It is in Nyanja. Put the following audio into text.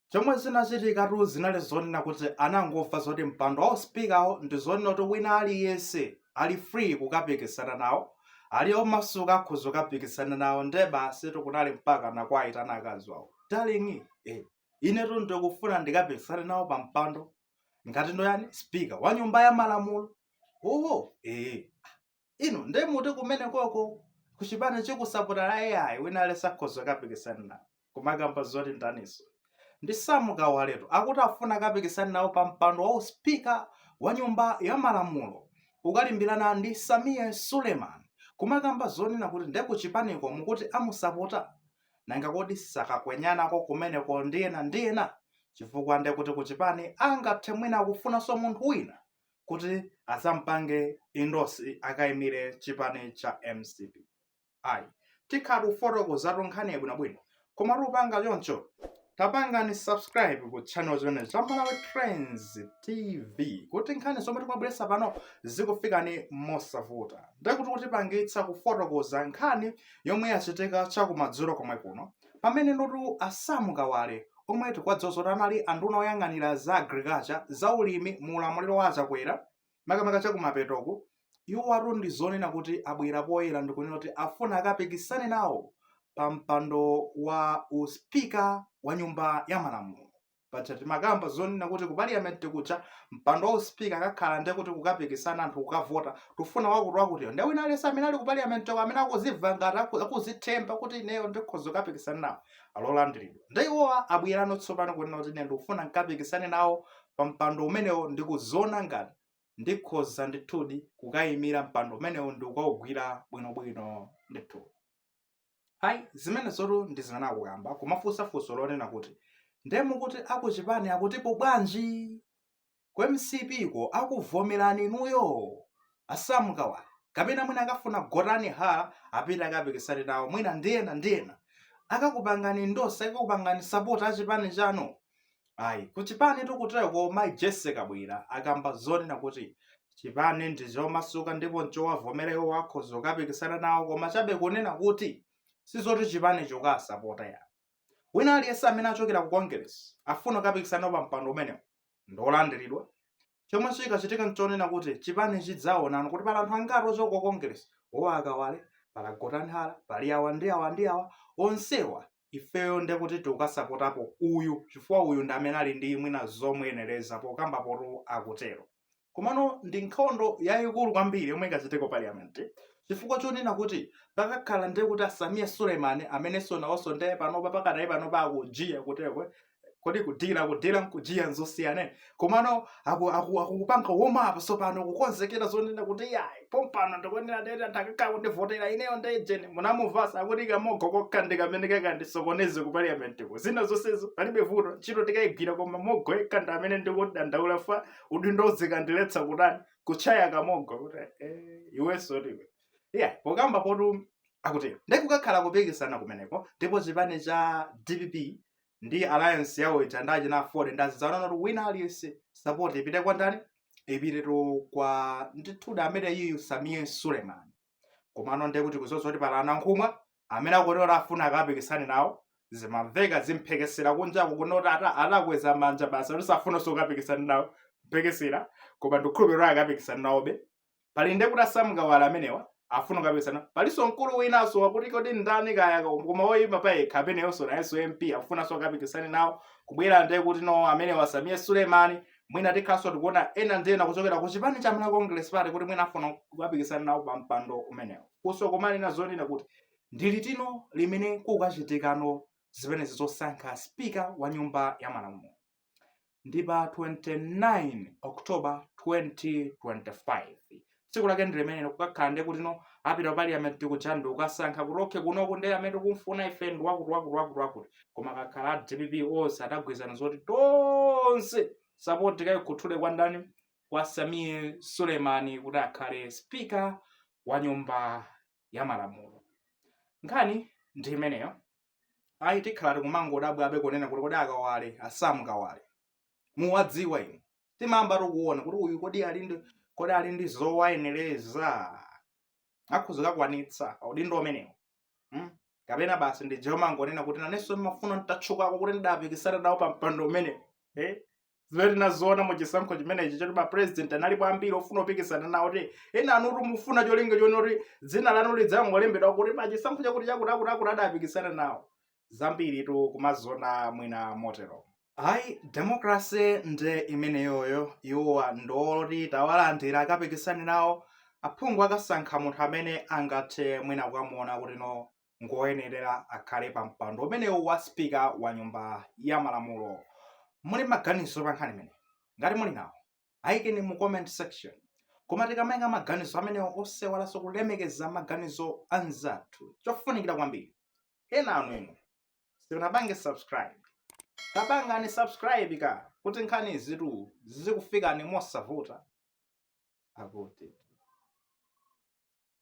chomwe zinachitikatu zinali zonena kuti anangomva zoti mpando wa usipikawo ndi zonena kuti wina aliyense ali free kukapikisana nawo ali omasuka akhoza kukapikisana nawo nde basi kunali mpaka kuwayitana akazi wawo darling eh, inetu ndikufuna ndikapikisane nawo pa mpando ngati ndoyani spika wa nyumba ya malamulo oho eh. inu nde muti kumene koko kuchipani chikusapotani ayi wina aliyense akhoza kapikisana nawo kumakamba zoti ndaniso ndi Sam Kawaletu akuti afuna kapikisana nawo pa mpando wa uspika wa nyumba ya malamulo ukalimbirana ndi Sameer Suleman kumakamba zonena kuti nde kuchipaniko mukuti amusapota nanga kodi sakakwenyanako kumeneko ndi ena ndi ena chifukwa nde kuti kuchipani angathe mwina akufunanso munthu wina kuti azampange endorse akaimire chipani cha mcp ayi tikhala tikufotokozatu nkhani yabwinobwino koma tikupanga choncho tapangani subscribe ku channel chimene cha malawi trends tv kuti nkhani zomwe tikumabweretsa pano zikufikani mosavuta ndekuti kutipangitsa kufotokoza nkhani yomwe yachitika chakumadzulo komwe kuno Pamenenutu a Sam Kawale omwe tikuwadziwa zoti anali a nduna oyang'anira za Agriculture, za ulimi mu ulamuliro wa a Chakwera, makamaka chakumapetoku, iwowatu ndi zonena kuti abwera poyera ndikunena kuti afuna akapikisane nawo pa mpando wa u speaker wa nyumba ya malamulo. paja timakamba zonena kuti ku parliament kuja mpando wa uspika akakhala nde kuti kukapikisana anthu kukavota tufuna wakuti wakutiyo nde wina aliyense amene ali ku parliament ko amene akuziva ngati aku- akuzithemba kuti ineyo ndikhoza kukapikisana nawo ali olandiridwa nde iwowa abwerano tsopano kunena kuti ine ndikufuna nkapikisane nawo pa mpando umenewo ndikuziona ngati ndikhoza ndithudi kukayimira mpando umenewo ndikukawugwira bwinobwino ndithu ayi zimenezotu ndi zimene akukamba kumafunsa funso lonena kuti nde mukuti akuchipani akutipo bwanji ku mcp ko akuvomerani inuyo a Sam Kawale kapena mwina akafuna Gotani Hara apite akapikisane nawo mwina ndi ena ndi ena akakupangani endorse akakupangani sapoti achipani chanu ayi kuchipani tikutero koma mayi Jessie Kabwila akamba zonena kuti chipani ndi chomasuka ndipo nchowavomera iwo akhoza kukapikisana nawo koma chabe kunena kuti sizoti chipani chikasapota ayi wina aliyense amene achokera ku congress afuna kukapikisana pa mpando umenewo ndiolandiridwa chomwe chikachitika nchonena kuti chipani chidzaonana kuti pali anthu angati ochoka ku congress awa a Kawale pali a Gotani Hara pali awa ndi awa ndi awa onsewa ifeyo nde kuti tikukasapotapo uyu chifukwa uyu ndi amene ali ndi mwina zomuyenereza pokamba potu akutero komano ndi nkhondo yayikulu kwambiri yomwe ikachitike ku parliament chifukwa chonena kuti pakakhala nde kuti a Sameer Suleman amenenso nawonso nde panopa pakadali panopa akujiya kutekwe kodi kudila kudila nkujiya nzosiyana komano akukupanga aku, warm up sopano kukonzekera zonena kuti yayi pompano ndikuonera dera ndakaka kundivotera ineyo ndejeni munamuvasa akuti kamogo kokha ndi kamene kakandisokoneze ku parliamentiko zina zonsezo palibe vuto ntchito tikayigwira koma mogo yekha ndi amene ndikudandaula fa udindo uzikandiletsa kutani kuchaya kamogo kuti eh, iwenso ndiwe iya yeah, pokamba potu akutero ndikukakhala kupikisana kumeneko ndipo chipani cha dpp ndi alliance yawo ija ndi achina aford ndi azidzaonana kuti wina aliyense support ipite kwa ndani ipite to kwa ndithuda amene uyu sameer suleman komano ndiye kuti kuzoza kuti pali a nankhumwa amene akuti afuna akapikisane nawo zimamveka zimphekesera kunjaku kunoti ata- atakweza manja basi kuti safunanso kukapikisana nawo mphekesera koma ndikhulupirira akapikisana nawobe pali nde kuti a sam kawale amenewa afuna kukapikisana palinso mkulu winanso wakuti kodi ndani kaya koma woyima pa yekha ameneyonso nayenso mp akufunanso akapikisane nawo kubwera nde kuti no amenewa sameer sulemani mwina tikhalanso tikuona ena ndi ena kuchokera ku chipani cha malawi congress party kuti mwina afuna kukapikisana nawo pa mpando umenewo funso kumanena zonena kuti ndi liti no limene kukachitika no zimenezi zosankha spika wa nyumba ya malamulo ndi pa 29 october 2025 tsiku lake ndi limenelo kukakhala ndi kuti no apita ku parliament kuja ndi kukasankha kuti okhe kunoku ndi amene tikumfuna ife ndi wakuti wakuti wakuti wakuti koma akakhala a dpp onse adagwirizana zoti tonse sapoti kayikhuthule kwa ndani kwa sameer sulemani kuti akhale spika wa nyumba ya malamulo nkhani ndi imeneyo ayi tikhala tikumangodabwabe kunena kuti kodi akawale a sam kawale muwadziwa inu timayamba tikuona kuti uyu kodi ali ndi kodi ali ndi zowayenereza akhoza kukwanitsa udindo umenewo hmm? kapena basi ndi zomangonena kuti nanenso ndimafuna nditatchukako kuti ndidapikisana nawo pa mpando umenewo eh? zimene tinaziona mu chisankho chimenechi choti ma president analipo ambiri ofuna kupikisana nawo kuti ena anutu mufuna cholinga choti kuti dzina lanu lidzangolembedwa kuti pa chisankho chakuti chakuti akuti akuti adapikisana nawo zambiritu kumaziona mwina motero ayi demokrase nde imeneyoyo iwowa ndi oti tawalandira akapikisane nawo aphungu akasankha munthu amene angathe mwina kukamuona kuti no ngoyenerera akhale pa mpando umenewu wa spika wa nyumba ya malamulo muli maganizo pa nkhani imeneyi ngati muli nawo ayikeni mu comment section koma tikamaika maganizo amenewo osewalanso kulemekeza maganizo anzathu chofunikira kwambiri ena anu inu simunapange subscribe tapangani subscribe ka kuti nkhanizitu zizikufikani mosavuta akuti